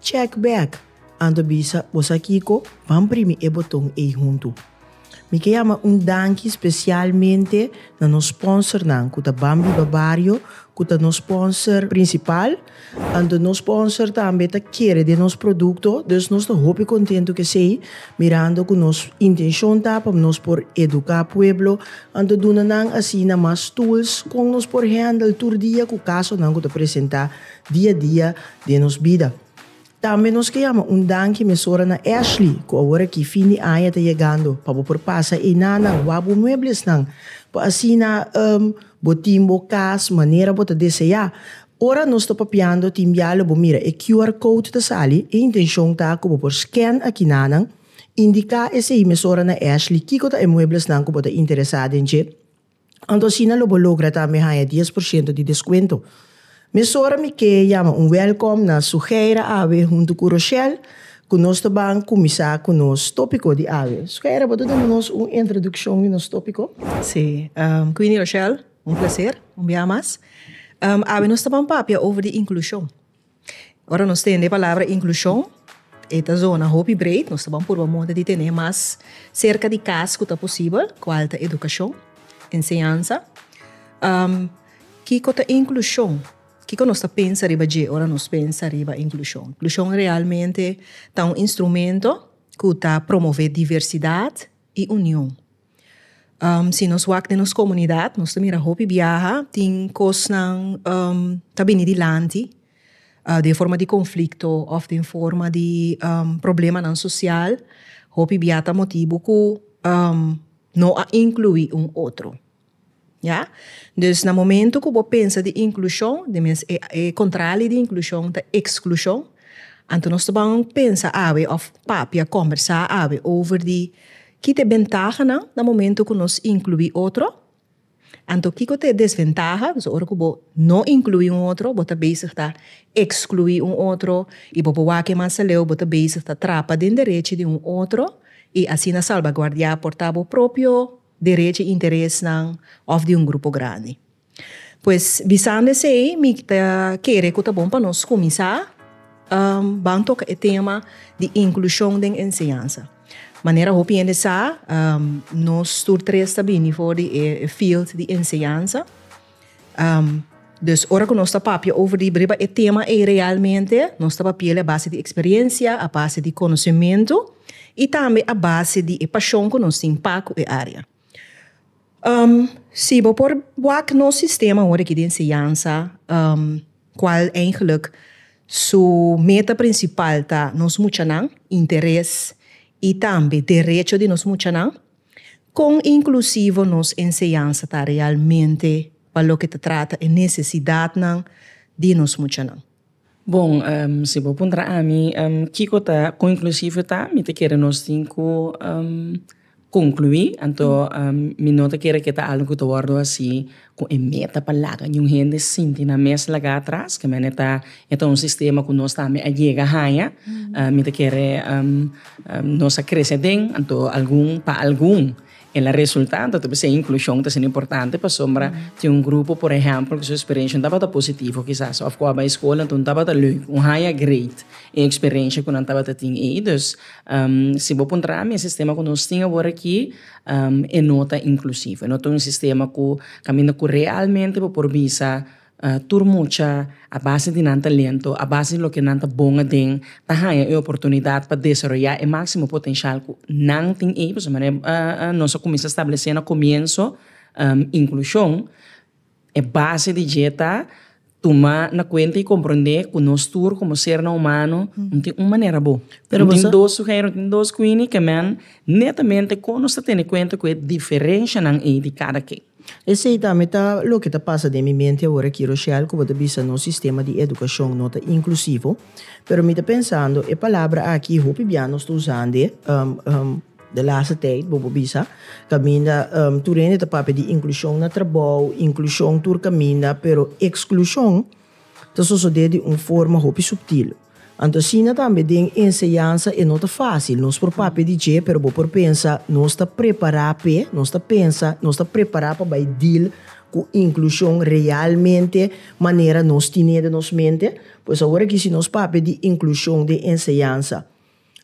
Check back, Anto bisa bo sa kiko? Ban primi e boton ei huntu. Mi ke yama un danki spesialmente na nos sponsornan ku ta Ban Biba Bario ku ta nos sponsor prinsipal, anto nos sponsor tambe ta kere den nos produkto, dus nos ta hopi kontentu kesei mirando ku nos intenshon ta pa nos por eduká pueblo, anto duna nan asina mas tools kon nos por handle tur dia ku kasonan ku ta presentá dia dia den nos bida. Tambe nos ke yama un danki mesora na Ashley ku awor aki fin di aña ta yegando pa bo por pasa einan nan wak bo mueblesnan pa asina bo tin bo kas manera bo ta deseá. Ora nos ta papiando tin bialu bo mira e QR code ta sali, e intenshon ta ku bo por scan aki nanan, indiká esei mesora na Ashley kiko ta e mueblesnan ku bo ta interesá den dje, Anto asina lo bo logra tambe haña dies por shento di deskuento. Mesora mi ke yama un wèlkòm na Sugeira awe huntu ku Roshel ku nos ta ban kuminsá ku nos tópiko di awe. Sugeira bo ta duna nos un introdukshon di nos tópiko? Sí, Queenie Roshel, un plaser un bia mas. Awe nos ta ban papia over di inklushon. Ora nos tende e palabra inclusion e ta zona hopi breed, nos ta ban purba moda di tene mas cerca di cas cu ta posibel, cual ta educacion, enseñanza. Kico ta inclusion? Kico nos ta pensa riba dje ora nos pensa riba inclusion? Inclusion realmente ta un instrumento cu ta promove diversidad y union. si nos wak den nos komunidat nos ta mira hopi biaha tin kosnan ta bini dilanti den forma di konflikto òf den forma di problemanan sosial. Hopi biaha ta motibu ku no a inkluí un otro. Ya. Dus na momento ku bo pensa di inklushon, di mes e kontrali di inklushon ta eksklushon, anto nos ta ban pensa awe òf papia, kòmbersá awe over di kiko ta e bentahanan na momento ku nos inkluí otro, anto kiko ta e desventaha, dus ora ku bo no inkluí un otro bo ta bezig ta ekskluí un otro i bo bo wak ke mas aleu bo ta bezig ta trapa den derechi di un otro i asina salbaguardiá por ta bo propio derechi i interesnan òf di un grupo grandi. Pues bisando esei mi ta kere ku ta bon pa nos kuminsá ban toka e tema di inklushon den enseñansa. Manera hopi hende sa nos tur tres ta bini for di e field di enseñansa. Dus ora ku nos ta papia over di riba e tema ei realmente nos ta papiel a base di eksperensia, a base di konosementu i tambe a base di e pashon ku nos tin pa ku e área. Si bo por wak nos sistema hopi aki di enseñansa kual eigenlik su meta prinsipal ta nos muchanan, interes i tambe derecho di nos muchanan. Kon inklusivo nos enseñansa ta realmente pa loke ta trata e nesesidatnan di nos muchanan? Bon, si bo puntra ami kiko ta kon inklusivo ta, mi ta kere nos tin ku konkluí, anto mi no ta kere ku e ta algu ku ta wòrdu hasi ku e meta pa laga ñun hende sinti nan mes laga atras ke mene ta e ta un sistema ku nos tambe a yega haña mi ta kere nos a krese den anto algun pa algun el a resulta anto ta bisai inklushon ta siña importante pasobra tin un grupo por ehèmpel ku su eksperenshia no tabata positivo kisas òf ku a bai skol anto no tabata leuk un haña greet e eksperensha ku nan tabata tin ei dus si bo puntra mi e sistema ku nos tin awor aki e no ta inklusivo. E no ta un sistema ku kaminda ku realmente bo por bisa tur mucha a base di nan talento, a base di loke nan ta bon aden, ta haña e oportunidat pa desaroyá e máksimo potenshal ku nan tin ei. Pasobra nos a kuminsá stablesé na komienso inklushon. E base di dje ta tuma na kuenta i komprondé ku nos tur komo sernan humano no tin un manera bo. No tin dos suheir, no tin dos kuini ke men netamente kon nos ta tene kuenta ku e diferenshanan ei di kada ken. Esei ta mi ta loke ta pasa den mi mente awor aki Rochelle ku bo ta bisa nos sistema di edukashon no ta inklusivo. Pero mi ta pensando e palabra aki hopi bia nos ta usand'e. De laatste tijd, bobo bisa, kaminda tur hende ta papia di inclusion na trabou, inclusion tur kaminda, pero exclusion ta sosode di un forma hopi subtil. Anto asina tambe den enseñansa e no ta fácil. Nos por papia di dje, pero bo por pensa, nos ta prepará p'e? Nos ta pensa, nos ta prepará pa bai deal ku inclusion realmente manera nos tin'é den nos mente? Pues awor aki si nos papia di inclusion den enseñansa,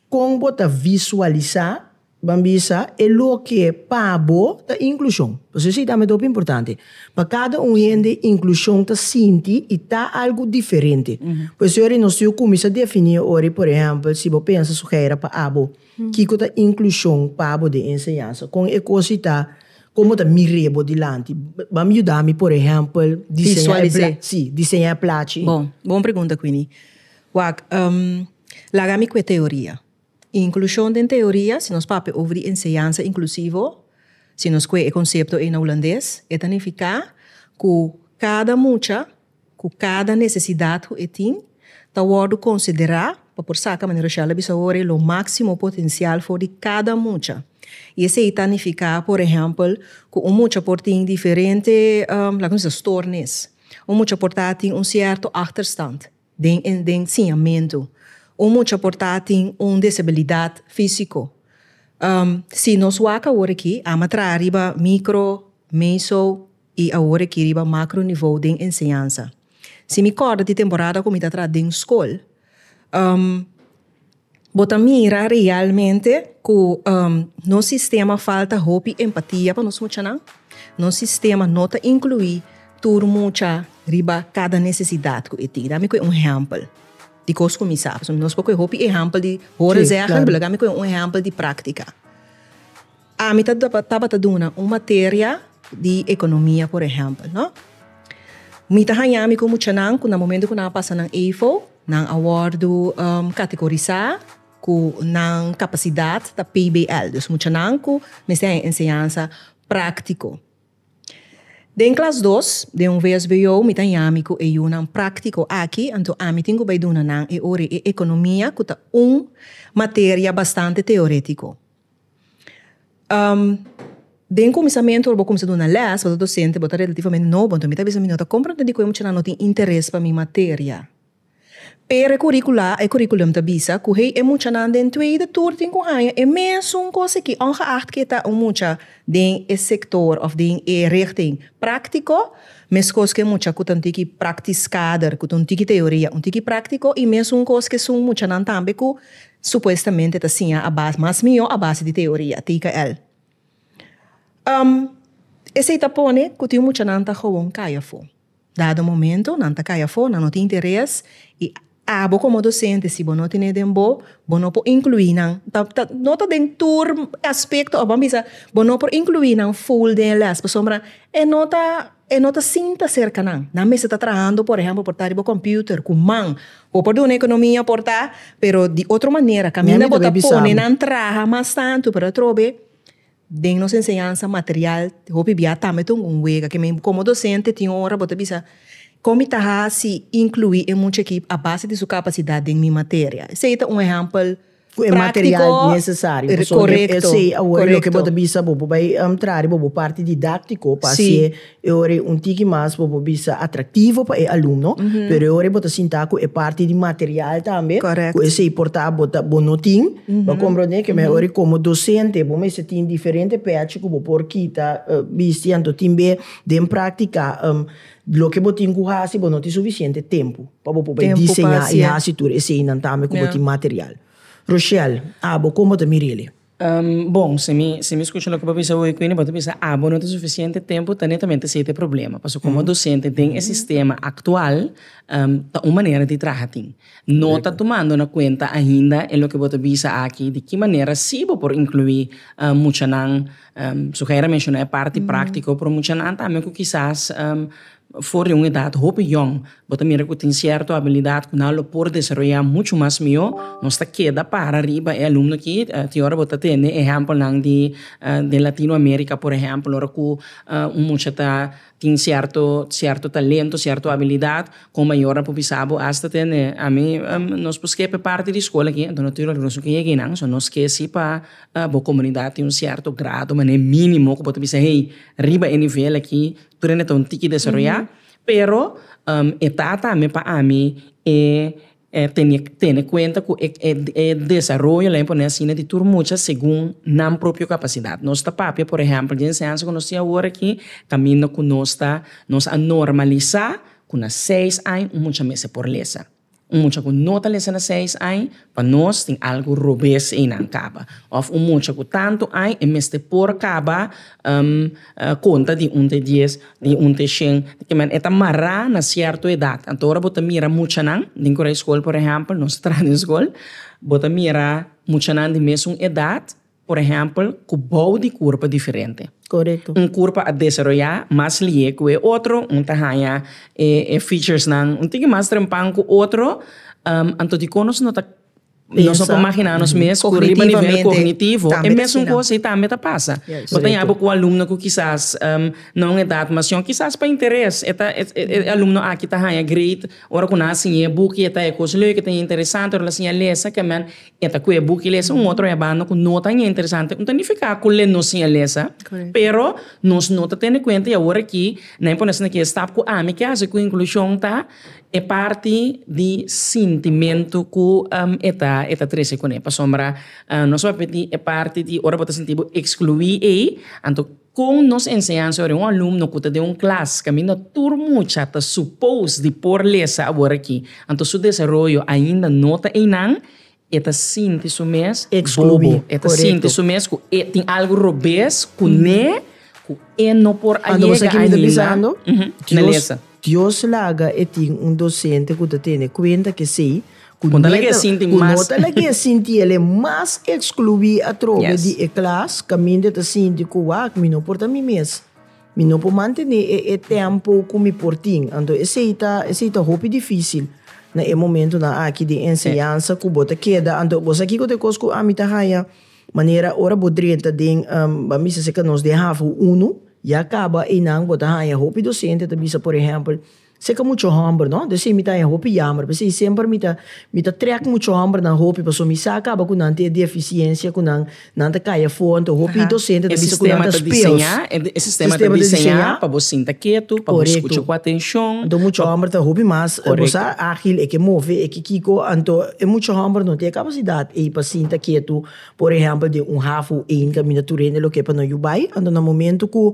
Kon bo ta visualisá? Ban bisa e loke pa bo ta inklushon. Pasobra si ta mi ta hopi importante. Pa kada un hende inklushon ta sinti i ta algu diferente. Por eso yori nos yu kuminsá defini ora por ehèmpel si bo pensa su hèra pa abo kiko ta inklushon pa bo den enseñansa. Kon e kos i ta kon bo ta mir'é bo dilanti. Ban yuda mi por ehèmpel diseñá e plachi. Bon pregunta Queenie. Wak. Laga mi ku e teoria. Inklushon den teoria, si nos papia over di enseñansa inklusivo, si nos kue e konsepto ei na hulandes, e ta nifiká ku kada mucha ku kada nesesidat ku e tin ta wòrdu konsiderá pa por saka, manera Rochelle a bisa awor, lo máksimo potensial for di kada mucha. I esei ta nifiká, por ehèmpel, ku un mucha por tin diferente, laga mi bisa, stòrnis. Un mucha por tin un sierto àchterstand. Den e enseñamentu, un mucha por ta tin un disabilidat físiko. Si nos wak awor aki, Ama traha riba mikro, meso i awor aki riba makro nivou den enseñansa. Si mi kòrda di temporada ku mi ta traha den skol, Bo ta mira realmente ku nos sistema falta hopi empatia pa nos muchanan? Nos sistema no ta inkluí tur mucha riba kada nesesidat ku e tin? Dame kue un ehèmpel di kos ku mi sa, pasobra nos por kue hopi ehèmpel di hòrezègèl, pero lagami kue un ehèmpel di práktika. Ami ta tabata duna un materia di economia por ehempel no mi ta haña mi cu muchanan cu na momento cu nan a pasa nan eifo nan a wordo categorisa cu nan capacidad ta pbl dus muchanan cu mester haña enseñansa practico den klas dos den un vsbo mi ta haña mi cu e yunan practico aki anto ami tin cu bay duna nan e ora e economia cu ta un materia bastante teoretico. den e kuminsamentu ora bo kuminsa duna lès ora bo ta dosente bo ta relativamente nobo mi ta bisa mi no ta komprende dikon e mucha nan no tin interes pa mi materia pero e kurikula e kurikulum ta bisa ku hei e mucha nan den tuweide tur tin ku haña e mesun kos aki ongeacht ke ta un mucha den e sektor òf den e richting praktiko meskos ku e mucha ku ta un tiki praktiskader ku ta un tiki teoria un tiki praktiko i mesun kos ke esun mucha nan tambe ku Supuestamente ta siña a base, mas mihó a base di teoria, TKL. Um, esei ta pone ku tin muchanan ta gewoon kai afó. Dado momento, nan ta kai afó, nan no tin interes, i abo komo dosente, si bo no ten'é den bo, bo no por inkluí nan, ta, ta, no ta den tur aspekto, abo a bisa, bo no por inkluí nan full den e lès, pasobra e no ta. E no ta sinta serka nan. Nan mester ta trahando por ehempel por ta riba computer cu man. Bo por duna economia por ta pero di otro manera caminda bo ta pone nan traha mas tanto pero atrobe den nos enseñansa material hopi bia tambe ta un wega ke men como docente tin ora bo ta bisa con mi ta haci inclui e mucha aki a base di su capacidad den mi materia. Esey ta un ehempel. Cu e material necesario. Pasobra Correcto. esey awor Correcto. loke bo ta bisa bo, bo bay traha di bobo parti didactico pa haci e ora e un tiki mas bobo bisa atractivo pa e alumno, pero e ora bo ta sinta cu e parti di material tambe, Correcto. cu esey por ta bo ta bo no tin, bo a comprende que mehor ora como docente bo mester tin diferente pechi cu bo por kita, bisti, anto tin be den practica. Loke bo tin ku hasi, bo no tin sufisiente tempu pa bo por bai diseñá i hasi tur eseinan tambe ku bo tin material. Rochelle, abo kon bo ta mir'el'e? Bon, si mi si mi skucha loke bo bisa ho'i kuini, bo ta bisa abo no tin sufisiente tempu ta netamente esei ta e problema. Pasobra komo dosente den e sistema aktual ta un manera di traha tin. No ta tumando na kuenta ainda e loke bo ta bisa aki di ki manera si bo por inkluí muchanan. Su hèra menshoná e parti práktiko, pero muchanan tambe ku kisas for di un edat hopi yòn, bo ta mira ku tin sierto abilidat ku nan lo por desaroyá muchu mas mihó, nos ta keda para riba e alumno akí. Tin ora bo ta tende ehèmpelnan di Latinoamérika, por ehèmpel, ora ku un mucha ta Tin cierto cierto talento, cierto habilidad con mayor a por bisa bo hasta tene a mi nos por esque pe parti di school aki entonces no tin regruso cu yegui nan so nos ke si pa bo comunidad tin un cierto grado mane minimo cu bo ta bisa hey riba e nivel aki tur ene ta un tiki desaroya pero e ta tambe pa ami e tene kuenta ku e desaroyo laga pone asina di tur mucha segun nan propio kapasidat nos ta papia por ehèmpel dje enseñansa ku nos tin awor aki kaminda ku nos ta nos a normalisá ku na seis aña un mucha mester por lesa un mucha ku no ta lesa na seis aña pa nos tin algu robes einan kaba òf un mucha ku tantu aña e mester por kaba. konta di un te dies, di un te shen, e ta mará na sierto edat. Anto ora bo ta mira muchanan den ku raiskol por ehèmpel, nos ta traha den skol, bo ta mira muchanan di mesun edat, por ehèmpel, ku bou di kurpa diferente. Un kurpa a desaroyá mas lié ku e otro, un ta haña e featuresnan un tiki mas trempan ku otro, anto dikon nos no ta Nos no por magina nos mes ku riba nivel kognitivo e mesun kos ei tambe ta pasa. Bo ta yaba ku alumno ku kisas na un edat masiò kisas pa interes e ta e alumno aki ta haña great ora ku nan a siña e buki e ta haña kos lek e ta haña interesante ora nan a siña lesa kemen e ta kohe buki lesa un otro herbando ku no ta haña interesante no ta nifiká ku le no siña lesa pero nos no ta tene kuenta i awor aki nan a pone asina ki'e stap ku ami ke hasi ku inklushon ta. E parti di sintimentu ku e ta e ta trese kuné pasobra nos a papia di e parti di ora bo ta sinti bo ekskluí ei anto kon nos enseñansa ora un alumno ku ta den un klas kaminda tur mucha ta supos di por lesa awor aki anto su desaroyo ainda no ta einan E ta sinti su mes bobo. E ta sinti su mes ku e tin algu robes ku ne ku e no por a yega ainda na lesa. Dios laga e tin un dosente ku ta tene kuenta ku esei ku no ta laga e sinti el'e mas ekskluí atrobe di e klas kaminda e ta sinti ku wak mi no por ta mi mes. Mi no por mantené e tempo cu mi por tin. Anto esey ta esey ta hopi dificil na e momentonan aki den enseñansa cu bo ta keda. Anto bo sa kico ta e cos cu ami ta haya? Manera ora bo drenta den, bo a mester si ca nos den hafu unu ya caba eynan bo ta haya hopi docente ta bisa por ehempel, Se ka mucho hòmber no de si mi ta e hopi yamber p'e si semper mi ta mi ta trèk mucho hòmbernan hopi paso mi sa kaba ku nan ta e defisiencia ku nan nan ta kai afo anto hopi dosente ta bisa ku nan ta speels e sistema ta diseña pa bo sinta ketu pa bo skucha ku atenshon anto mucho hòmber ta hopi mas bo sa ágil e ke move e ke kiko anto e mucho hòmber no tin e kapasidat ei pa sinta ketu por ehèmpel den un haf o ein kaminda tur hende loke pa nan yu bai anto na momentu ku.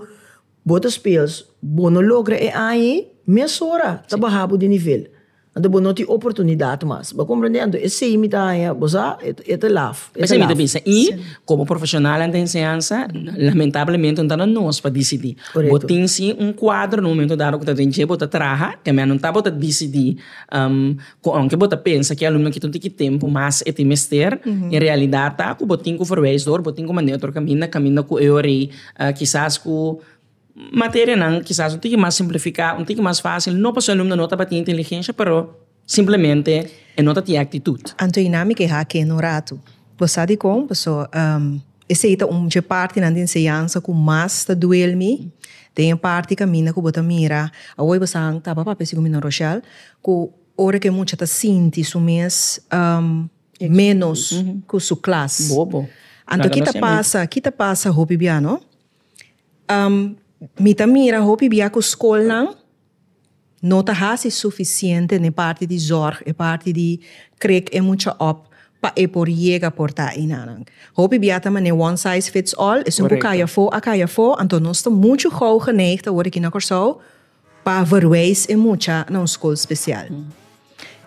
Bo ta speels, bo no logra e aña mesora ta baha bo di nivel, anto bo no tin oportunidad mas. Bo a comprende? Anto esey mi ta haña, bo sa, e ta laf. E ta laf. Y como profesionalnan den enseñansa, lamentablemente no ta na nos pa dicidi. Bo tin si un cuadro na un momento dado cu ta den dje, bo ta traha, teme no ta bo ta dicidi cu aunke bo ta pensa cu e alumnonan kico tin ki tempo mas e tin mester, en realidad ta cu bo tin cu verwijs door, bo tin cu manda e otro caminda, caminda cu e ora ey. Kisas ku materianan kisas un tiki mas simplifiká, un tiki mas fásil, no pasobra e alumnonan no tabatin inteligensha, pero simplemente e no ta tin e aktitut. Anto i na mi kehá kende un ratu. Bo sa dikon? Pasobra esei ta un dje partinan di enseñansa ku mas ta duel mi den e parti kaminda ku bo ta mira awor. Bo sa tabata papia si ku mi no, Rochelle? Ku ora ku e mucha ta sinti su mes. menos cu su klas. Bobo. Anto ki ta pasa, ki ta pasa hopi bia no? Mi ta mira hopi bia cu scolnan no ta haci suficiente n'e parti di zorg, e parti di krek e mucha op pa e por yega por ta einanan. Hopi bia ta mane one size fits all, esun cu cay afo a cay afo, anto nos ta mucho gauw geneig ta worde aki na Corsou, Pa verweis e mucha na un skol spesial.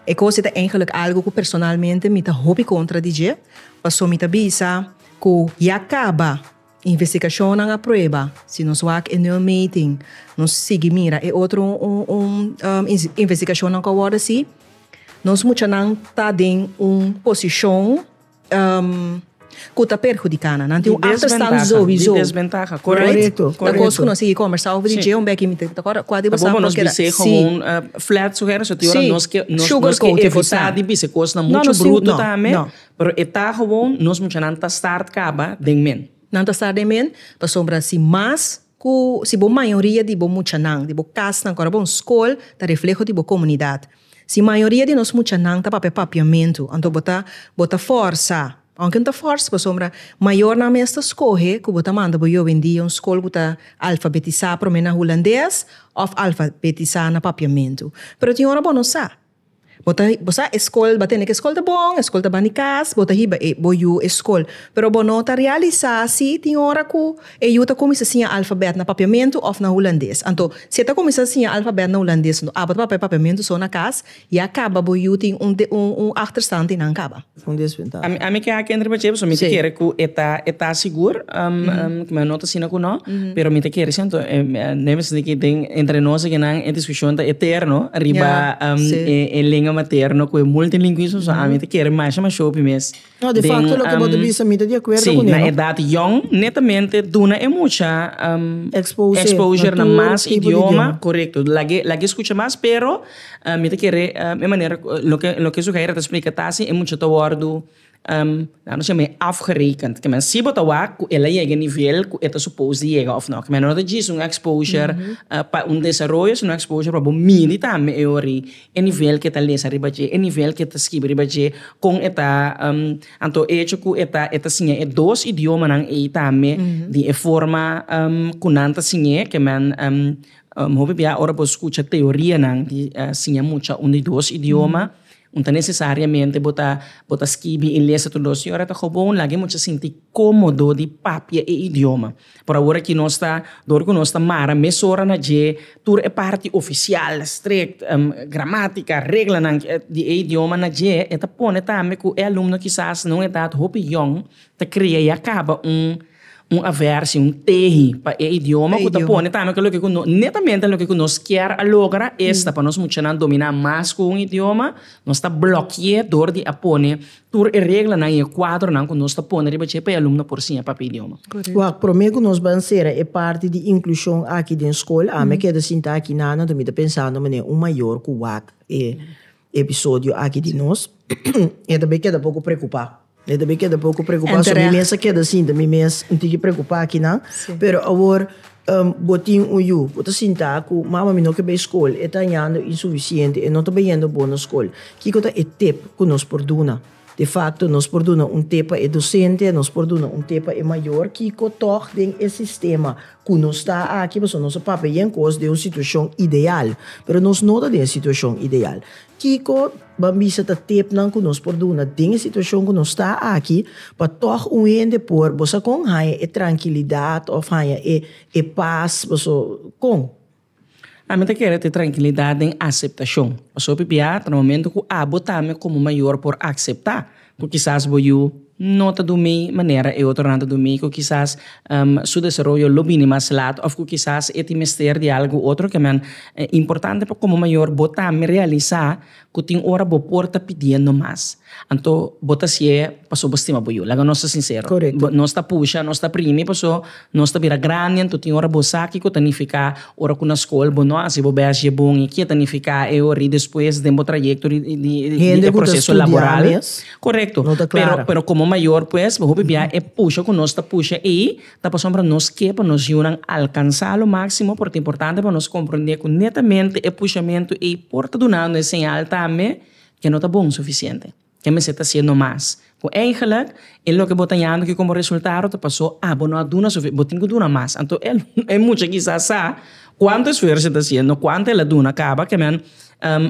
E kos e ta eingelik algu ku personalmente mi ta hopi kontra di dje, paso mi ta bisa ku ya kaba investigashonnan a prueba si nos wak e nul meting, nos sigui mira e otro investigashonnan ku a wòrdu hasi, nos muchanan ta den un posishon. ku ta perhudiká nan. Nan tin un achterstand souizou. Di desbentaha, korekto. Korekto. Ta kos ku nos sigui kòmbersá over di dje un bèk. Mi ta kòrda kua di basá pròkera. Nos bis'é gewoon flat su hèr. So te ora nos ke nos ke evitá di bis'é kosnan muchu bruto tambe. No, no, no. Pero e ta gewoon nos muchanan ta start kaba den men. Nan ta start den men pasobra si mas. Ku si bo mayoria di bo muchanan, di bo kasnan ku ora bon skol ta refleho di bo komunidat. Si mayoria di nos muchanan ta papia papiamentu, anto bo ta bo ta fòrsa, ounke no ta fòrsa pasobra mayornan mes ta skohe ku bo ta manda bo yobe en dia un skol ku ta alfabetisá promé na hulandes òf alfabetisá na papiamentu. Pero tin ora bo no sa. Bo ta bo sa e skol ba tene ke skol ta bon e skol ta ban di kas bo ta hiba e bo yu e skol pero bo no ta realisa si tin ora ku e yu ta kuminsa siña alfabèt na papiamentu òf na hulandes anto si e ta kuminsa siña alfabèt na hulandes abo ta papia papiamentu so na kas ya kaba bo yu tin un un achterstand tin nan kaba. un desventaha. Ami ke a kende riba djebel so mi ta kere ku e ta e ta sigur kuma e no ta asina ku no pero mi ta kere si anto no e mester di den entre nos aki nan e diskushon ta eterno riba e lenga materno ku e multilingwismo so ami ta kere masha ma shopi mes si na edat yòn netamente duna e mucha exposure na mas idioma korekto lag'e lag'e skucha mas pero. Mi ta kere e manera ku loke su hègera ta splika ta si e mucha ta wòrdu nan a shema e afgerekend, ke men si bo ta wak ku el a yega e nivel ku e ta supos di yega òf nò, ke men no ta djis un exposure pa un desaroyo sino exposure pa bo miri tambe e ora e nivel ku e ta lesa riba dje, e nivel ku e ta skibi riba dje, kon e ta anto e hecho ku e ta e ta siña e dos idiomanan ei tambe di e forma ku nan ta siñ'é ke men Hopi bia ora bo skucha teorianan di siña mucha un di dos idioma, no ta nesesariamente bo ta bo ta skibi i lesa tur dos idioma. Ora ta gewoon laga e mucha sinti komodo di papia e idioma. Por awor aki nos ta, dor ku nos ta mara mes ora na dje tur e parti ofisial, strek, gramátika, reglanan di e idioma na dje, e ta pone tambe ku e alumno kisas na un edat hopi yòn Ta krea ya kaba un un aversion un tehi pa e idioma ku ta pone tambe ke loke ku no netamente loke ku nos kier a logra esta pa nos muchanan domina mas ku un idioma nos ta bloki'é dor di a pone tur e reglanan i e kuadronan ku nos ta pone riba dje pa e alumnonan por siña papia idioma. Wak promé ku nos ban sera e parti di inklushon aki den skol, ami a keda sinta aki nana, mi ta pensando manera un mayor ku wak e. episodio aki di nos, e ta bay keda poco preocupa. E ta bay keda poco preocupa, so mi mes a keda sinta, mi mes un tiki preocupa aki nan, pero awor bo tin un yu, bo ta sinta cu mama mi no ke bay school, e ta hañando insuficiente, e no ta bayendo bo na school, kiko ta e tip cu nos por duna? De facto, nos por duna un te pa e docente, nos por duna un te pa e mayor kico tog den e sistema cu nos ta aki, pasobra nos a papia yen cos den un situacion ideal, pero nos no ta den e situacion ideal. Kico ban bisa ta tipnan cu nos por duna den e situacion cu nos ta aki pa tog un hende por, bo sa con, haya e trankilidad of haya e paz, bo sa con? Ami ta kere tin trankilidat den aseptashon. Pasobra p'pia? Ta na momentu ku abo tambe komo mayor por akseptá ku kisas bo yu no ta durmí manera e otronan ta durmí, ku kisas su desaroyo lo bini mas lat òf ku kisas e tin mester di algu otro ke men. Importante pa komo mayor bo tambe realisá Ku tin ora bo por ta pidiendo mas. Anto bo ta si'e paso bo stima bo yu. Laga nos ta sincero. Nos ta pusha, nos ta primi paso nos ta bira grandi anto tin ora bo sa kiko ta nifica ora ku na skol bo no hasi bo bes dje bon y ke ta nifica e ora y despues den bo trayecto di e proceso laboral. Correcto pero komo mayor pues bo hopi bia e pusha ku nos ta pusha ey. Ta pasobra nos ke pa nos yunan alkansá lo máksimo, por ta importante pa nos komprondé ku netamente e pushamentu ei por ta dunandu e señal tambe ke no ta bon sufisiente, ke mester ta siña no mas. Ku eigenlik e loke bo ta hañando aki komo resultado ta pasó, ah bo no a duna sufi, bo tin ku duna mas. Anto e e mucha kisá sa kuantu esfuerso e ta haciendo, kuantu el a duna kaba kimin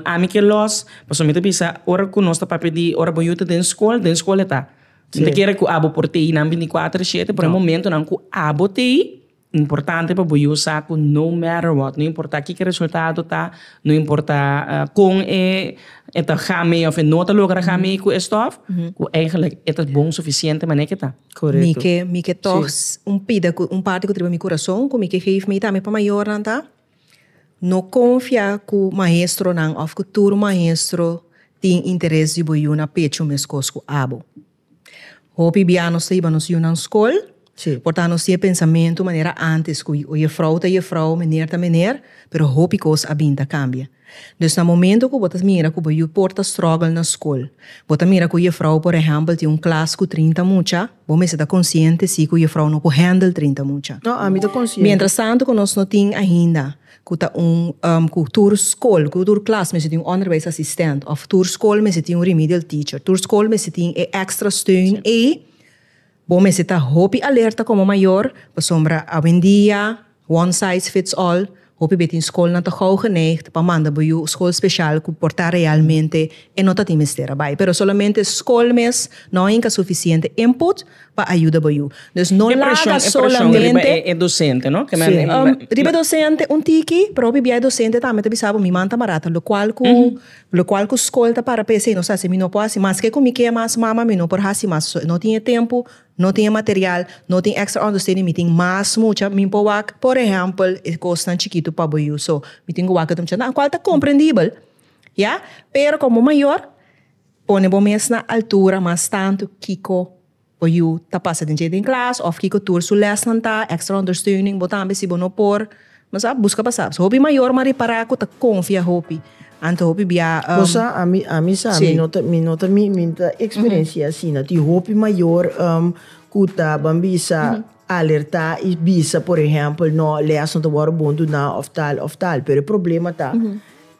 ami ke lòs, pasobra mi ta bisa ora ku nos ta papia di ora bo yu ta den skol, den skol e ta. Si ta kere cu abo por tei nan binticuater shete pero hay momentonan cu abo tei importante pa bo yu sa cu no matter what no importa kiko e resultado ta no importa con e ta ga mee of e no ta logra ga mee cu e stof cu eigenlijk e ta bon suficiente manera ki ta. Mi ke toch un pida cu un parti cu ta riba mi curason cu mi ke geef mee tambe pa mayornan ta. No konfia ku maestronan òf ku tur maestro tin interes di bo yu na pechu meskos ku abo. Hopi bia nos ta iba nos yu nan skol, por ta nos tin e pensamentu manera ántes ku oye frou ta ye frou, mener ta mener, pero hopi kos a bin ta kambia. Dus na momento ku bo ta mira ku bo yu por ta strògel na skol, bo ta mira ku yefrou por ehèmpel tin un klas ku trinta mucha, bo mester ta konsiente si ku yefrou no ku hèndel trinta mucha. Miéntras tantu ku nos no tin ainda ku ta un ku tur skol, ku tur klas mester tin un ònderbèis asistent òf tur skol mester tin un remedial teacher, tur skol mester tin e èkstra steun ei. Bo mester ta hopi alerta komo mayor, pasobra awendia, one size fits all, hopi b'ey tin skolnan ta gou geneigd pa manda bo yu skol speshal ku por ta realmente e no ta tin mester a bai. Pero solamente skol mes no a hinka sufisiente input pa a yuda bo yu. Dus no laga solamente. E preshon, e preshon riba e dosente, no? Ke men riba. Riba e dosente un tiki, pero hopi bia e dosente tambe ta bisa bo mi man ta barata, lokual ku Locual cu scol ta para pa esey nos haci, mi no por haci, maske cu mi kee mas mama mi no por haci mas, so no tin e tempo, no tin e material, no tin extra understanding, mi tin mas mucha, mi por wak por ehempel e cosnan chikitu pa bo yu, so mi tin cu wak e mucha nan, cual ta comprendibel ya, pero con bo mayor pone bo mes na altura mas tanto kico. Bo yu ta pasa den dje den klas of kiko tur su lèsnan ta, extra ondersteuning, bo tambe si bo no por bo sa buska pa sa. Hopi mayornan ripara ku ta konfia hopi anto hopi bia. Bo sa ami ami sa mi no ta mi no ta mi mi no ta eksperensia asina tin hopi mayor ku ta ban bisa alerta i bisa por ehempel no lèsnan ta wòrdu bonduná of tal of tal pero e problema ta.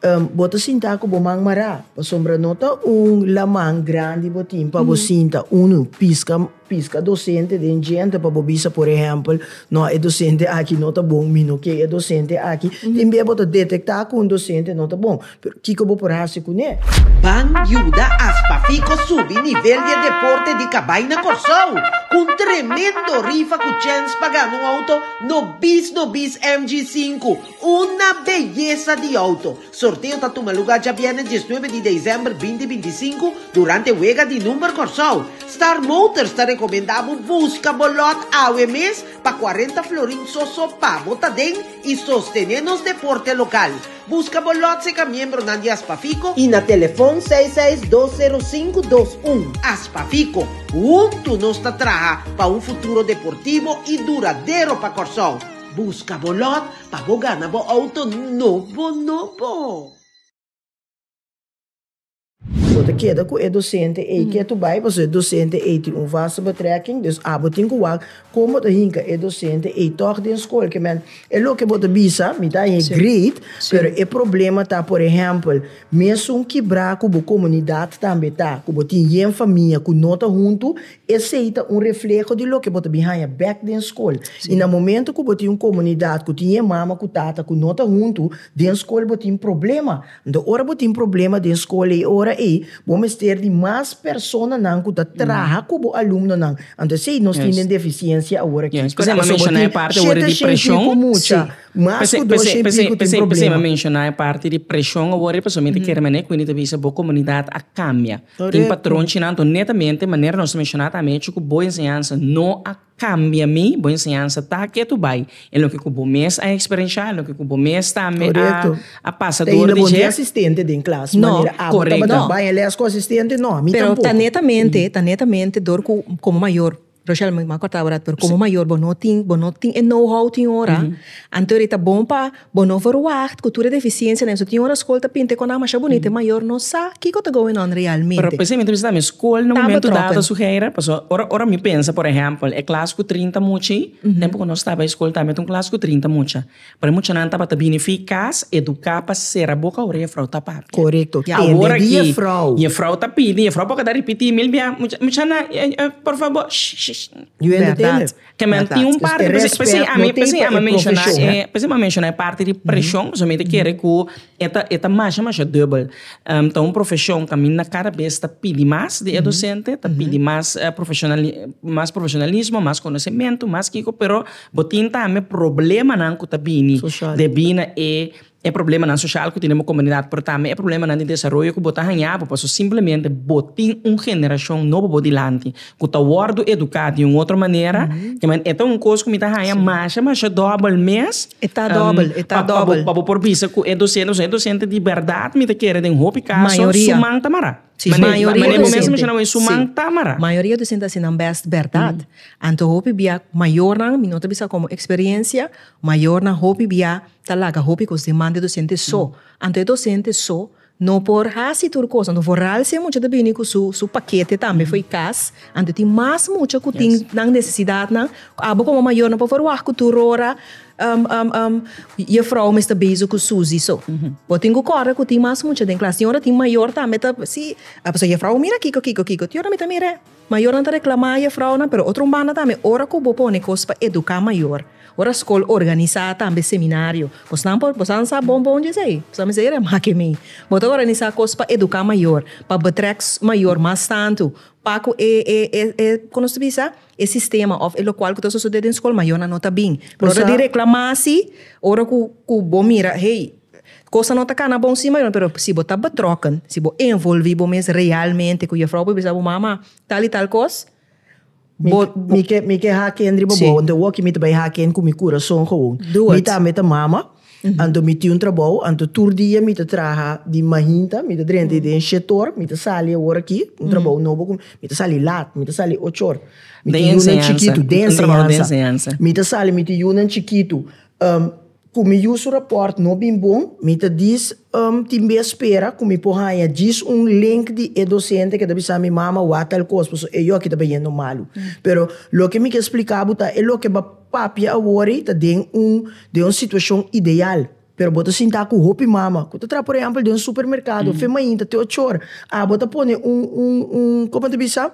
Bo ta sintá ku bo man mará, pasobra no ta un laman grandi bo tin pa bo sinta, unu, piska piska dosente den djente pa bo bisa, por ehèmpel, no, e dosente aki no ta bon, mi no ke e dosente aki. Tin bia bo ta detektá ku un dosente no ta bon, pero kiko bo por hasi kuné? Ban yuda as Pafico subi nivel di e deporte di kabai na Kòrsou ku un tremendo rifa ku chèns pa gana un outo nobis nobis MG5. Una beyesa di outo! Sorteo ta tuma luga djabièrnè diesnuebe di desèmber binti bintisinku durante Wega di Number Kòrsou. Star Motors ta rekomendá bo buska bo lòt awe mes pa kuarenta florin sòsò pa bo ta den i sostené nos deporte lokal. Buska bo lòt seka miembronan di Aspafico i na telefòn seis seis dos sero sinku dos un. Aspafico, huntu nos ta traha pa un futuro deportivo i duradero pa Kòrsou. Busca bo lot pa bo gana bo auto nobo nobo. Bo ta keda cu e docente ey ke tu bay pasobra e docente ey tin un vaste betrekking, dus abo tin cu wak con bo ta hinca e docente ey toch den school ke men e loke bo ta bisa mi ta aña e grade pero e problema ta por ehempel mesun kibra cu bo comunidad tambe ta cu bo tin yen famia cu no ta hunto Esei ta un refleho di loke bo ta bin haña bek den skol. I na momento ku bo tin un komunidat ku tin e mama ku tata ku no ta huntu, den skol bo tin problema. Anto ora bo tin problema den skol e ora ei bo mester di mas personanan ku ta traha ku bo alumnonan. Anto esei nos tin den defisiensia awor aki. P'esei mi a menshona e parti awor di preshon. Si. P'esei p'esei p'esei p'esei p'esei mi a menshona e parti di preshon awor pasobra mi ta kere mane ku mi ta bisa bo komunidat a kambia. Tin patron chinan anto netamente manera nos a menshoná ta amechu ku bo enseñansa no a kambia mi, bo enseñansa ta ke tu bai en loke ku bo mes a eksperenshá, loke ku bo mes ta a pasa dor di dje. Korekto. Ta inda bo no tin asistente den klas manera abo tabata bai lès ku asistente? No, mi tampoco. Pero ta netamente, ta netamente dor ku komo mayor. Rochel mi a corta ahora pero como mayor bo no tin bo no tin e know how tin ora anto ora ta bon pa bo no verwacht cu tur e deficiencianan eso tin ora school ta pinta e connan masha bonito e mayor no sa kico ta going on realmente. Pero p'esei mi ta bisa tambe school na momento dado su hera pasobra ora ora mi pensa por ehempel e klas cu trinta muchi tempo cu nos staba e school tambe ta un klas cu trinta mucha. P'e muchanan tabata bini fi cas educa pa cera boca ora e frou ta papia. Corecto, tende di e frou. Awor aki e frou ta pidi, e frou por keda ripiti mil bia, muchanan por fabor shhh. Yu hende tende. Kemen tin un parti p'esei ami p'esei ami a menciona e p'esei ami a menciona e parti di presion pasobra mi ta kere cu e ta e ta masha masha dubel. Ta un profesion caminda cada bes ta pidi mas di e docente, ta pidi mas profesionali mas profesionalismo, mas conocemento, mas kico pero. Bo tin tambe problemanan ku ta bini debí na e e problemanan soshal ku tene bo komunidat pero tambe e problemanan di desaroyo ku bo ta haña bo paso simplemente bo tin un generashon nobo bo dilanti ku ta wòrdu eduká di un otro manera i men e ta un kos ku mi ta haña masha masha dòbel mes pa bo por bisa ku e dosente pasobra e dosente di bèrdat mi ta kere den hopi kaso su man ta mará. Mayoria docente a haci nan best berdad. Anto hopi bia mayornan, mi no ta bisa como experiencia, mayornan hopi bia ta laga hopi cos diman di docente so. Anto e docente so no por haci tur cos. Anto vooral si e mucha ta bini cu su paquete tambe fo'i cas, anto tin mas mucha cu tin nan necesidadnan cu abo como mayornan por wak cu tur ora. Um, um, um, juffrouw mester bezig ku Susie so. Bo tin ku kòrda ku tin mas mucha den klas. Tin ora tin mayor tambe ta si, a pasa juffrouw mira kiko kiko kiko. Tin ora mi ta mira mayornan ta reklama juffrounan, pero otro un banda tambe ora ku bo pone kos pa eduká mayor, ora skol organisá tambe seminario, bosnan por bosadan sa bon bon dje esei? Bosadan mester yara mas ke mi. Bo ta organisá kos pa eduká mayor, pa betrek mayor mas tantu, pa ku e e e e kon nos ta bisa? e sistema of e lokual ku ta sosodé den skol mayornan no ta bin. Por ora di reklamasi, ora ku ku bo mira hey kosa no ta kana bon si mayornan pero si bo ta betrokken, si bo envolvi bo mes realmente ku Jefrouw bo bisa bo mama tal i tal kos bo Mi ke mi ke haken riba bo, den woki mi ta bai haken ku mi kurason gewoon. Mi tambe ta mama. Anto mi tin un trabou, anto tur dia mi ta traha di mahinta, mi ta drenta i den shetor, mi ta sali awor aki, un trabou nobo ku mi ta sali lat, mi ta sali ocho or. Mi tin yunan chikitu, den enseñansa. Mi ta sali mi tin yunan chikitu, ku mi yu su rapòrt no bin bon, mi ta dis tin be spera ku mi por haña djis un link di e dosente ku ta bisa mi, mama, wak tal kos, pasobra e yoki tabata yendo malu. Pero loke mi ke splika bo ta e loke Papia a wori ta den un den un situashon ideal, pero bo ta sintá ku hopi mama ku ta traha por ehèmpel den un supermerkado of den mainta te ocho ora, abo ta pone un un un komo ta bisa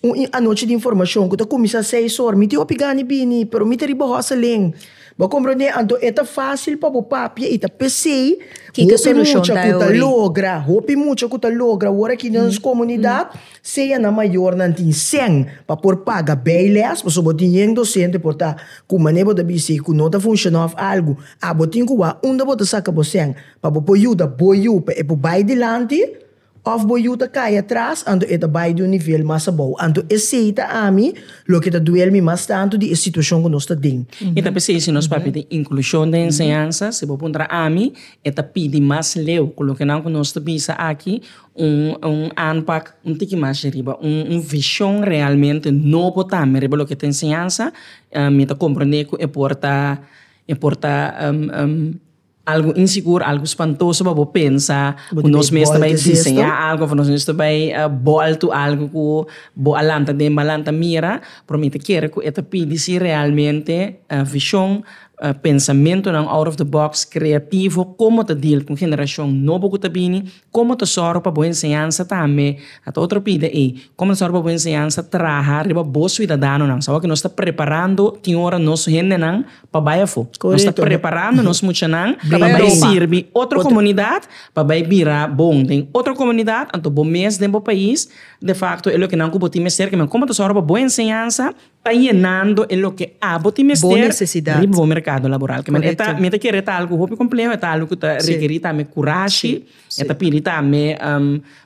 un i anochi di informashon ku ta kuminsá seis ora, mi tin hopi gana di bini pero mi ta riba hòs alen, bo a komprendé? Anto e ta fásil pa bo papia i ta pesei hopi mucha ku ta logra hopi mucha ku ta logra wor aki den nos komunidat Sea nan mayornan tin sèn pa por paga bei lès, pasobra bo tin yen dosente por ta ku manera bo ta bis'é ku no ta funshoná òf algu. Abo tin ku wak unda bo ta saka bo sèn pa bo por yuda bo yu pa e por bai dilanti òf bo yu ta kai atras anto e ta bai di un nivel mas abou. Anto esei ta ami loke ta duel mi mas tantu di e situashon ku nos ta den. I ta p'esei si nos papia tin inklushon den enseñansa, si bo puntra ami, e ta pidi mas leu ku lokenan ku nos ta bisa aki Un un aanpak un tiki mas di riba, un un vishon realmente nobo tambe riba loke ta enseñansa, mi ta komprende ku e por ta e por ta algu insigur, algu spantoso pa bo pensa ku nos mes ta bai diseñá algu òf nos mes ta bai bòltu algu ku bo a lanta den bo a lanta mira, pero mi ta kere ku e ta pidi si realmente vishon, pensamentunan out of the box, kreativo, komo ta dil ku un generashon nobo ku ta bini Komo ta sòru pa bo enseñansa tambe, a ta otro pida ei, komo ta sòru pa bo enseñansa traha riba bo suidadanonan? Us tabata ku nos ta preparando tin ora nos hendenan pa bai afó. Nos ta preparando nos muchanan pa bai sirbi otro komunidat, pa bai bira bon den otro komunidat. Anto bo mes den bo pais, defakto e loke nan ku bo tin mester kimin. Komo ta sòru pa bo enseñansa? ta yenando e loke abo tin mester riba bo merkado laboral. Kèmen e ta, mi ta kere e ta algu hopi kompleho, e ta algu ku ta rekerí tambe kurashi, e ta pidi tambe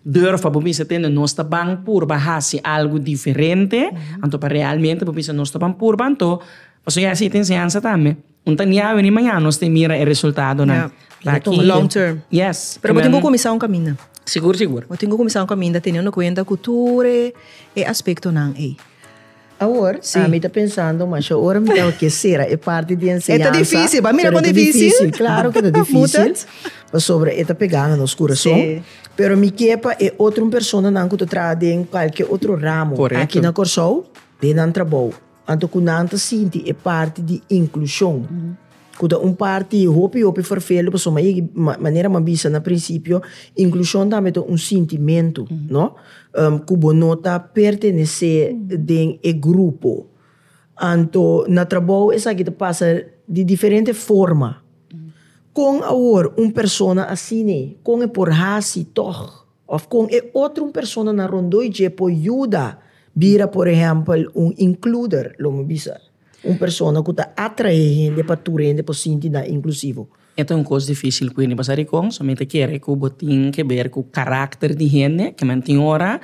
dùrfa bo bisa tende nos ta ban purba hasi algu diferente, anto pa realmente bo bisa nos ta ban purba anto, pasobra e hasi e ta enseñansa tambe. Un ta niawe ni mañana nos tin mira e resultadonan. Ya. Ta aki. Bo long term. Yes. Pero bo tin ku kuminsá un kaminda. Sigur sigur. Bo tin ku kuminsá un kaminda teniendo kuenta ku tur e aspektonan ei. Awor, mi ta pensando masha ora mi tabata ke sera e parti di enseñansa. E ta difísil, ba mira kon difísil. Pero e ta difísil, claro ke ta difísil. Pasobra e ta pegá na nos kurason. Sí. Pero mi ke pa e otro personanan ku ta traha den kualke otro ramo aki na Kòrsou den nan trabou. Anto ku nan ta sinti e parti di inklushon, ku ta un parti hopi hopi ferfeldu, pasobra ma yegi, manera mi a bisa na prinsipio, inklushon tambe ta un sintimentu, no? ku bo no ta pertenesé den e grupo. Anto na trabou esaki ta pasa di diferente forma. Kon awor un persona asina, kon e por hasi tòg? Of kon e otro un persona na rondoi dje por yuda bira por ehèmpel un inkluder, lo mi bisa, un persona ku ta atraé hende pa tur hende por sinti nan inklusivo. E ta un kos difísil ku hende, pasá dikon? So mi ta kere ku bo tin ke ber ku karakter di hende, ke men tin ora,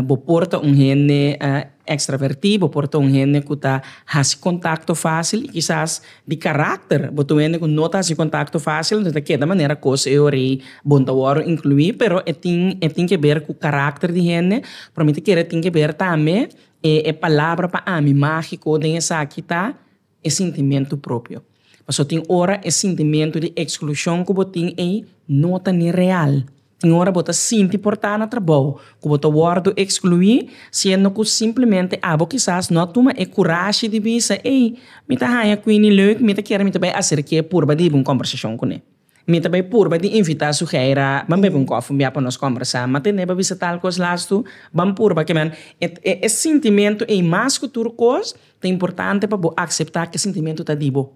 bo por ta un hende ekstravertí, bo por ta un hende ku ta hasi kontakto fásil i kisas di karakter. Bo ta un hende ku no ta hasi kontakto fásil, ta keda manera kos e ora ei bon ta wòru inkluí, pero e tin e tin ke ber ku karakter di hende, pero mi ta kere tin ke ber tambe e palabra pa ami mágiko den esaki ta e sintimentu propio. Pasobra tin ora e sintimentu di eksklushon ku bo tin ei no ta ni real. Tin ora bo ta sinti por ta na trabou ku bo ta wòrdu ekskluí, siendo ku simplemente abo kisas no a tuma e kurashi di bisa, Ey, mi ta haña Queenie leuk, mi ta kere mi ta bai aserk'é purba di hiba un kòmbersashon kuné. Mi ta bai purba di invitá Suheira ban bebe un kòf un bia pa nos kòmbersá. M'a tende bo a bisa tal kos las tu? Ban purba ke men. E e sintimentu ei mas ku tur kos, ta importante pa bo akseptá ku e sintimentu ta di bo.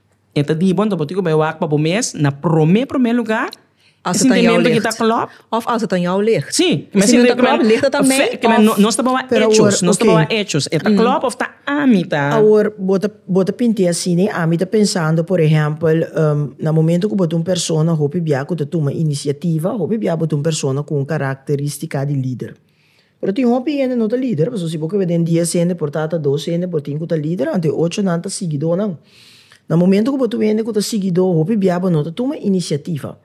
E ta di bo, anto bo tin ku bai wak pa bo mes na promé promé lugá, e sintimentu ki ta klòp. Òf as e ta jou licht. Sí, kem'e sintimentu ta klòp licht ta mei òf. Kem'e nos ta bawa echos, nos ta bawa echos. E ta klòp òf ta ami ta. Awor bo ta bo ta pint'é asina i ami ta pensando por ehèmpel na momentu ku bo ta un persona hopi bia ku ta tuma inisiativa, hopi bia bo ta un persona ku un karakteristika di lider. Pero tin hopi hende no ta lider, pasobra si bo kebe den dies hende por ta ata dos hende bo tin ku ta lider, anto e ocho nan ta sigidonan. Na momento ku bo ta obi hende ku ta sigidó, hopi bia bo no ta tuma inisiativa.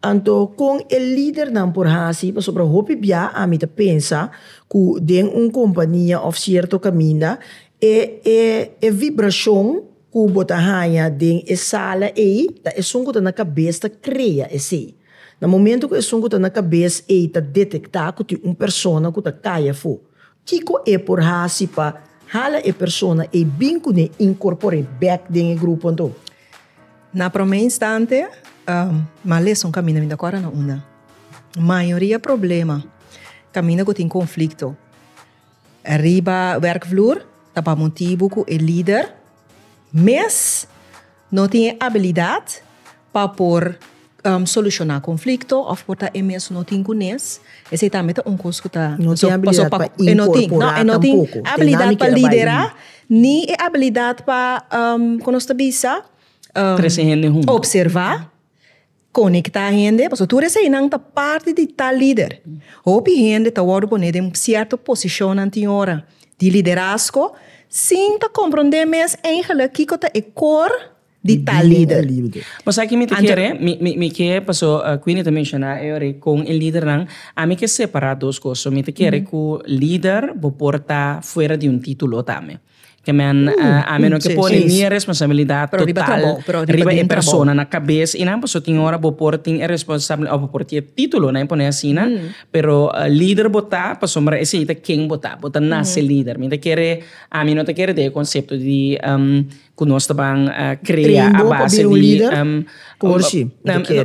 Anto kon e lidernan por hasi, pasobra hopi bia ami ta pensa ku den un kompania òf sierto kaminda e vibrashon, ku bo ta haña den e sala ei ta esun ku ta na kabes ta krea esei. Na momentu ku esun ku ta na kabes ei ta detektá ku tin un persona ku ta kai afó, kiko e por hasi pa hala e persona ei bin ku n'e inkorpor'é bèk den e grupo anto? Na promé instante, mas leson kaminda mi ta kòrda na unda mayoria problema kaminda ku tin konflikto. Riba werkvloer ta pa motibu ku e lider mes no tin e abilidat pa por solushoná konflikto òf por ta e mes no tin kunes. Esei tambe ta un kos ku ta. E no tin abilidat pa inkorporá tampoku. E no tin abilidat pa liderá ni e abilidat pa, ku nos ta bisa. Trese hende huntu. Opservá. Konektá hende, pasobra tur eseinan ta parti di tal lider. Hopi hende ta wòrdu poné den sierto posishonnan tin ora di liderasko sin ta komprondé mes eingelik kiko ta e kor di tal lider. Bo sa ki mi ta kere? Mi ke, pasobra Queenie ta menshoná e ora ei kon e lidernan, ami ke separá dos kos. So mi ta kere ku lider bo por ta fuera di un título tambe. Amen ami no ke por ni e responsabilidad total riba e persona na kabes i nan pasobra tin ora bo por tin e responsabilidad bo por tin e titulo nan e pone asina pero lider bo ta pasobra esei ta ken bo ta bo ta nase lider mi ta kere ami no ta kere den e concepto di ku nos ta ban crea a base di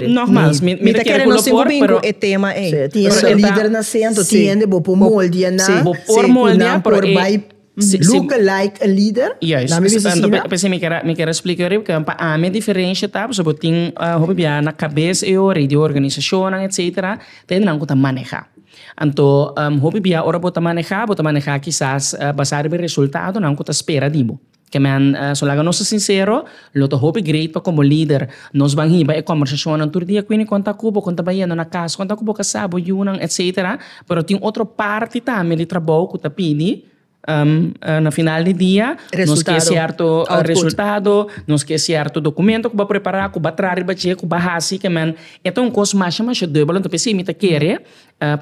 no mas mi ta kere ku lo por pero tin e lider na sento tin hende bo por moldea nan bo por moldea pero e Si, si, Look alike a leader? Juist. Dame bisa si na. P'esei mi ker, mi ker a splica e ora porque pa ami e diferencia ta pasobra bo tin hopi bia na cabes e ora y di organisacionnan etcetera ta e nan cu ta maneha. Anto hopi bia ora bo ta maneha, bo ta maneha kisas basa riba e resultadonan cu ta spera di bo. Kemen, so laga nos ta sincero. Lo ta hopi great pa komo lider nos ban hiba e kòmbersashonnan tur dia kwini kon ta ku bo, kon ta bayendo na kas, kon ta ku bo ka sa bo yunan etsetera, pero tin otro parti tambe di trabou ku ta pidi na final di dia nos ke sierto resultado, nos ke sierto dokumento ku ba prepará ku ba traha riba dje ku ba hasi ke men e ta un kos masha masha debel enton p'esei mi ta kere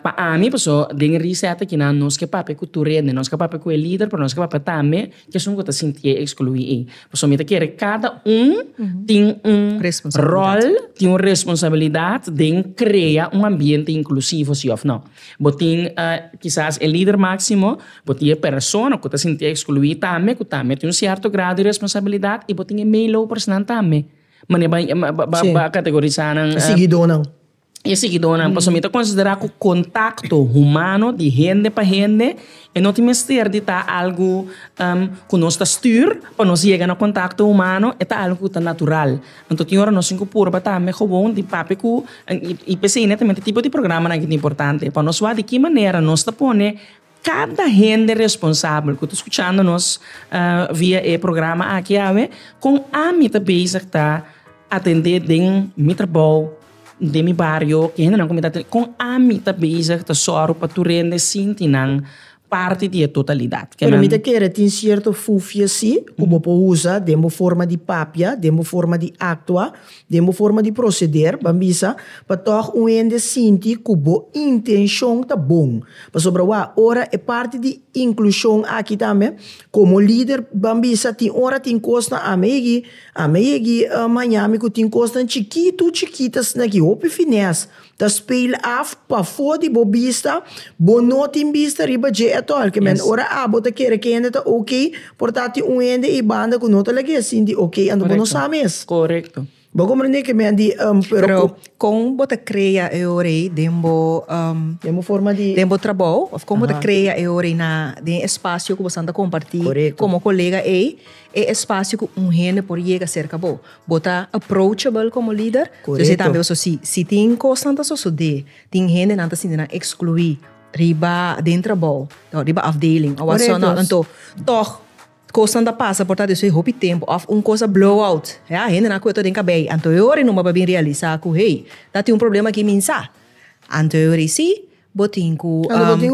Pa ami paso den e risèt akinan nos ke papia ku tur hende, nos ka papia ku e lider, pero nos ka papia tambe ku esun ku ta sintié ekskluí ei. Paso mi ta kere kada un tin un ròl, tin un responsabilidat den krea un ambiente inklusivo, si òf nò? Bo tin kisas e lider máksimo, bo tin e persona ku ta sintié ekskluí tambe, ku tambe tin un sierto grado di responsabilidat i bo tin e meelopersnan tambe, manera ba kategorisá nan. y e seguidornan pasobra mi ta considera cu contacto humano di hende pa hende e no tin mester di ta algo cu nos ta stuur pa nos yega na contacto humano e ta algo cu ta natural anto tin ora nos tin cu purba tambe gewoon di papia cu y p'esei nete tipo di programanan a tin importante pa nos wak di ki manera nos ta pone Cada hende responsabel cu ta scuchando nos via e programa aki awe, con ami ta bezig ta atende den mi trabou, den mi bario, e hendenan cu mi ta atende, con ami ta bezig ta zorg pa tur hende sinti nan parti di e totalidad. Pero mi ta kere tin cierto fufia si cu bo por usa den bo forma di papia, den bo forma di actua, Den bo forma di proseder ban bisa pa tòg un hende sinti ku bo intenshon ta bon. Pasobra wak ora e parti di inklushon aki tambe, komo lider ban bisa tin ora tin kosnan ami a yegi, ami a yegi mañana mi ku tin kosnan chikitu chikita asina ki hopi finès. Ta speel af pafó di bo bista, bo no tin bista riba dje at all, ke men ora a bo ta kere ke hende ta ok, por ta tin un hende ei banda ku no ta laga e sinti ok, anto bo no sa mes. Bo a komprendé ke men a di Pero kon bo ta krea e ora ei den bo den bo forma di den bo trabou of kon bo ta krea e ora ei na den espasio ku bo esnan ta kompartí komo kolega ei e espasio ku un hende por yega serka bo. Bo ta approachable komo lider. Korekto. Esei tambe pasobra si si tin kosnan ta sosodé, tin hende nan ta sinti nan ekskluí riba den trabou o riba afdeling o whasoever. Korekto. Anto tòg kosnan ta pasa por ta despues hopi tempu òf un kos a blow out. Ya hende nan ku yo ta den kabei ei anto e ora ei nomba pa bin realisá ku hey ta tin un problema aki min sa. Anto e ora ei si bo tin ku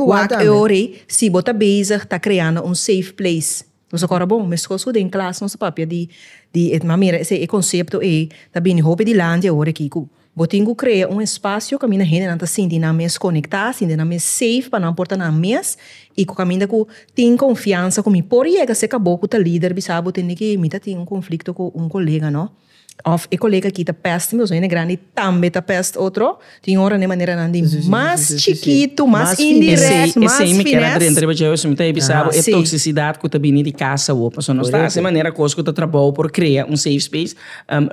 wak e ora ei si bo ta bezig ta kreando un safe place. Nos a kòrda bon, meskos ku den klas nos a papia di di e manera esei, e konsepto ei ta bini hopi di landia ora aki ku bo tin ku krea un espasio kaminda hendenan ta sinti nan mes konektá, sinti nan mes seif pa nan por ta nan mes i ku kaminda ku tin konfiansa ku mi por yega seka bo ku ta lider bisa bo tende ke mi ta tin un konflikto ku un kolega no. Of e colega aki ta pest mi, boso hende grandi tambe ta pest otro. Tin ora n'e maneranan di mas chikitu, mas indirect, mas fines. Esei mi kier a drenta riba dje hopi, mi ta bisa bo e toxicidad ku ta bini di kasa awor. Pasobra nos ta hasi manera kos ku ta trabou por krea un safe space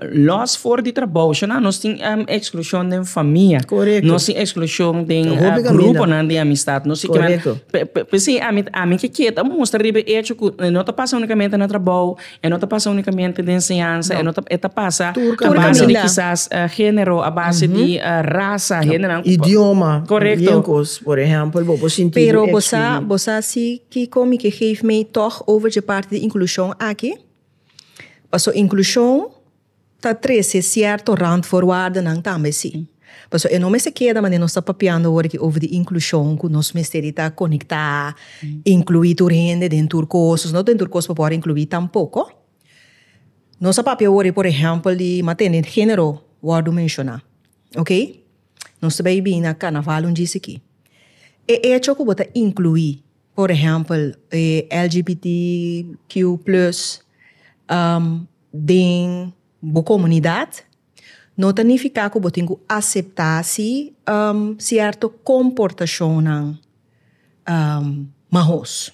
los for di trabou. Shana nos tin exclushon den famia, nos tin exclushon den gruponan di amistad. P'esei ami, ami ke kier ta mustra riba e hecho ku no ta pasa unikamente na trabou, E no ta pasa unicamente den enseñansa, e no ta, e ta pasa Tur a base di caminda. kisas eh, género, a base di eh, raza, géneronan. Idioma. Correcto. Bien cos, por ejemplo, bo por sinti Pero bo sa, excluí. bo sa si kiko mi ke geef mee tog over dje parti di inclusion aki? Paso inclusion Ta trece cierto randvoorwaardennan tambe si. Paso e no mester keda manera nos ta papiando awor aki over di inclusion cu nos mester di ta conecta, inclui tur hende den tur cos, paso no den tur cos bo por inclui tampoco. Nos a papia awor por ehempel di matene genero wordo menciona, ok. Nos ta bay bini na carnaval un djis aki. E hecho cu bo ta inclui por ehempel LGBT Q plus. Den bo komunidat, no ta nifiká ku bo tin ku aseptá si sierto komportashonnan mahos.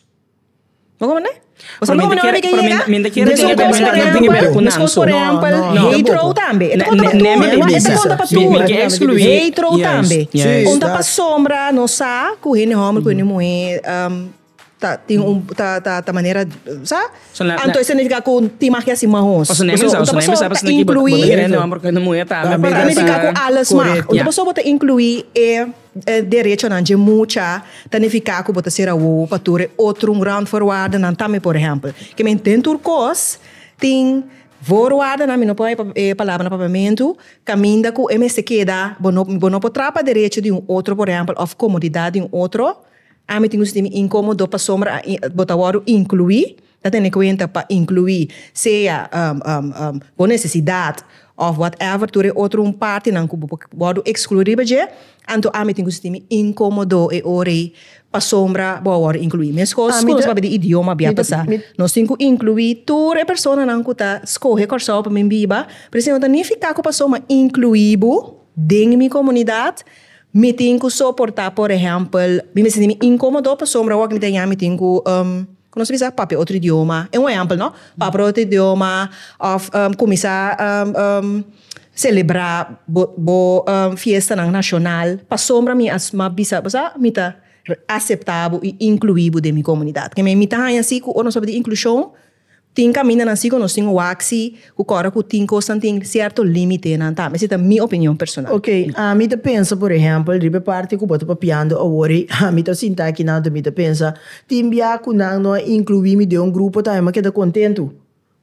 Bo kòmprendé? Paske mi no habri ke yega esun kos ku tempu. Mescos por ehèmpel, heitro tambe. E ta konta pa tur. E ta konta pa tur. Heitro tambe. Konta pa sombra nos sa ku hende hòmber ku hende muhé. Ta tin un ta ta ta manera sa So na anto na eso nifica cu tin magi asi mas hoos paso neme sa un ta paso ta inclui ta nifica cu alles mag un ta paso bo ta inclui e derechonan dje mucha ta nifica cu bo ta ser awowo pa tur e otro randvoorwaardennan tambe por ehempel ke men den tur cos tin voorwaardennan mi no por haña e palabra na papiamentu caminda cu e mester keda bo no bo no por traba derecho di un otro por ehempel of comodidad di un otro Ami tin un sintimi inkomodo pasobra a bo ta wòrdu inkluí. Ta tene kuenta pa inkluí sea bo nesesidat òf whatever tur e otro un partinan ku bo por wòrdu ekskluí riba dje. Anto ami tin ku sintimi inkomodo e ora ei pasobra bo a wòrdu inkluí. Meskos ku nos papia di idioma bia ta sa. Nos tin ku inkluí tur e personanan ku ta skohe Kòrsou pa mi biba, pero si no ta nifiká ku pasobra mi a inkluí bo den mi komunidat, Mi tin cu soporta por ehempel mi me sinti mi incomodo pasobra awor cu mi ta eña mi tin cu cu nos ta bisa papia otro idioma e un ehempel no papia otro idioma of cuminsa celebra bo bo fiestanan nacional pasobra mi asma bisa bo sa mi ta acepta bo y inclui bo den mi comunidad keme mi ta haña si cu ora nos tabata inclusion Tin camindanan si cu nos tin waxi cu cora cu tin cosnan tin cierto limitenan tambe. Ese ta mi opinion personal. Ok, ami ta pensa por ehempel riba e parti cu bo ta papiando awor y ami ta sinta aki nan tu mi ta pensa tin bia cu nan no a inclui mi den un grupo tambe m'ha keda contento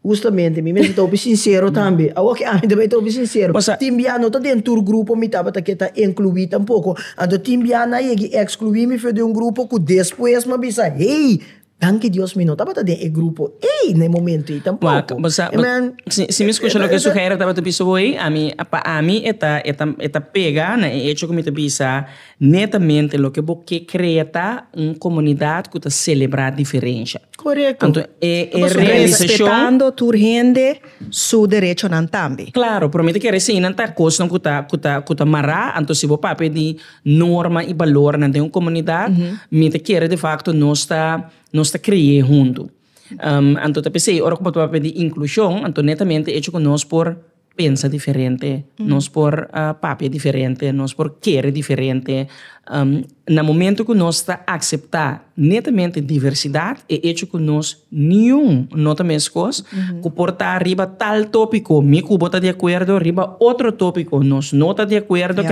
justamente mi mester ta hopi sincero tambe awor cu ami ta bay ta hopi sincero Pasa. tin bia no ta den tur grupo mi tabata ke ta inclui tampoco anto tin bia nan a yega y exclui mi for den un grupo cu despues m'ha bisa hey Danki Dios mi no tabata den e grupo ey na e momento ey tampoco. Amen. Si mi scucha loke su hènry tabata bisa bo ey, ami, pa ami e ta, e ta, e ta pega na e hecho cu mi ta bisa netamente loke bo ke crea ta un comunidad cu ta celebra diferencia. Correcto. Anto e realisacion. Respetando tur hende su derechonan tambe. Claro, pero mi ta kere si eynan ta cosnan cu ta, cu ta, cu ta mara, anto si bo papia di. norma y balornan den un comunidad mi ta kere de facto nos ta nos ta cre'e hunto anto ta p'esei ora cu bo ta papia di inclusion anto netamente hecho cu nos por pensa diferente nos por papia diferente nos por kere diferente na momento cu nos ta acepta netamente diversidad e hecho cu nos niun no ta mescos cu por ta riba tal topico mi cu bo ta de acuerdo riba otro topico nos no ta de acuerdo.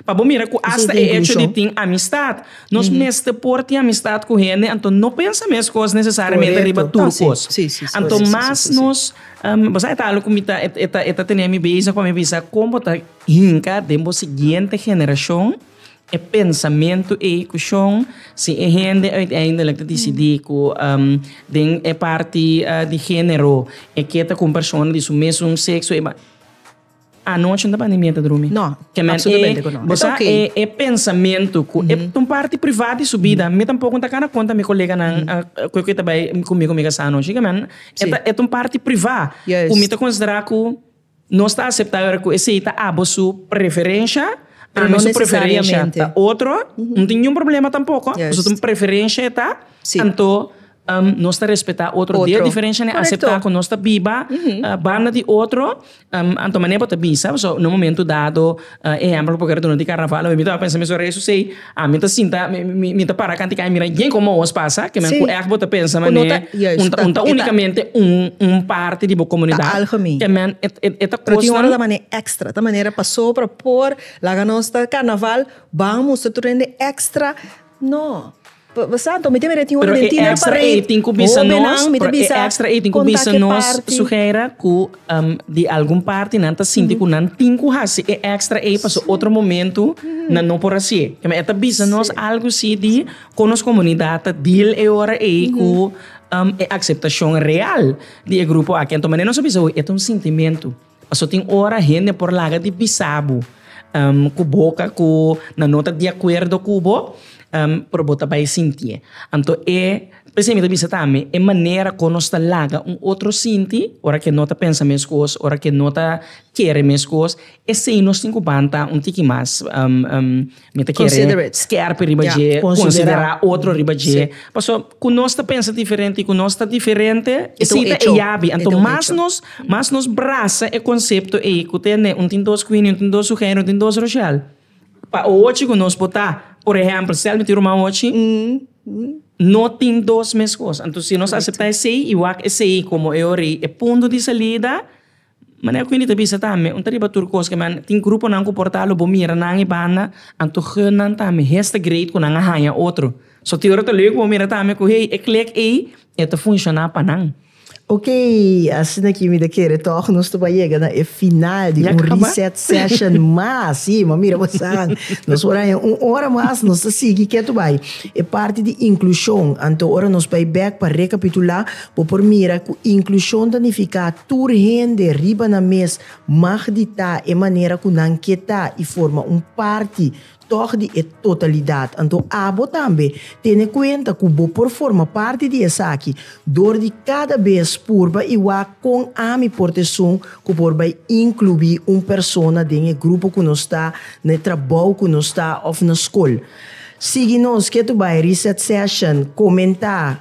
Pa bo mira cu hasta e hecho di tin amistad, nos mester por tin amistad cu hende, anto no pensa mes cos necesariamente riba tur cos. Anto mas nos, bo sa e talo cu mi ta, e ta, e ta tene mi bezig pa mi bisa con bo ta hinca den bo siguiente generacion e pensamento ey cu shon, si e hende uiteindelijk ta dicidi cu den e parti di genero e keta cu un persona di su mesun sexo, Anochi no ta bandi mienta drumi. No, absolutamente cu no. Bo sa e pensamento cu e ta un parti privat di su bida. Mi tampoco no ta cana conta mi coleganan cu e ta bay cu mi cu mi casa anochi. E ta un parti privat cu mi ta considera cu no sta aceptabel aver cu esey ta abo su preferencia, ami su preferencia ta otro. No tin ningun problema tampoco pasobra preferencia e ta anto. Nos ta respetá otro di e diferenshanan aseptá ku nos ta biba banda di otro anto manera bo ta bisa so na un momento dado ehèmpel ku bo kere duna di karnaval mi tabata pensa mesun rei sosei ami ta sinta mi ta para kanti kai a mira yen komo awos pasa kiman ku ègt bo ta pensa manera un ta únikamente un parti di bo komunidat kiman e ta kosnan ta manera pasobra por laga nos ta karnaval bamos ta tur hende èkstra. No. Bo bo sa anto mi tin mira e tin un Pero e dinner extra parade. ei tin ku bisa Hobe nan nos, mi ta pero e bisa extra ei tin ku konta bisa ke nos parti. Suheira ku em di algun parti nan ta sinti ku nan tin ku hasi e extra ei paso otro momento nan no por hasi'e. Kema e ta bisa nos algu si di kon nos komunidat ta deal e ora ei ku em e akseptashon real di e grupo aki. Anto mane nos a bisa hui e ta un sintimentu. Paso tin ora hende por laga di bisa bo ku boka ku nan no ta di akuerdo ku bo pero bo ta bai sintié. Anto e p'esei mi ta bisa tambe e manera kon nos ta laga un otro sinti ora ke no ta pensa meskos ora ke no ta kere meskos esei nos tin ku banta un tiki mas. Mi ta kere skerp riba dje, konsiderá otro riba dje. Pasobra ku nos ta pensa diferente i ku nos ta diferente e sita e yabi. Anto mas nos mas nos brasa e konsepto ei ku ta ne un tin dos Queenie, un tin dos Sugèira, un tin dos Rochelle. Pa ochi ku nos por ta, por ehèmpel, stel mi tin ruman ochi, no tin dos mes kos. Anto si nos aseptá esei i wak esei komo e ora ei e punto di salida, Manera ku Wendy ta bisa tambe un ta riba tur kos keme tin gruponan ku por ta lo bo mira nan e banda anto hunnan tambe hes ta great ku nan a haña otro so tin ora ta lek ku bo mira tambe ku hey e klek ei e ta funshoná pa nan. Ok, asina ki mi ta kere tòg nos ta por yega na e final di un Reset Session mas. Sí, m'a mira bosan. Nos por haña un ora mas, nos ta sigui ketu bai e parti di inklushon. Anto ora nos bai bèk pa rekapitulá Bo por mira cu inclusion ta nifica tur hende riba nan mes mag di ta e manera cu nan ke ta y forma un parti tog di e totalidad. Anto abo tambe tene cuenta cu bo por forma parti di esaki door di cada bes purba y wak con ami por ta esun cu por bay inclui un persona den e grupo cu nos ta, na e trabou cu nos ta of na scol. Sigui nos, ke tu bay, reset session, comenta.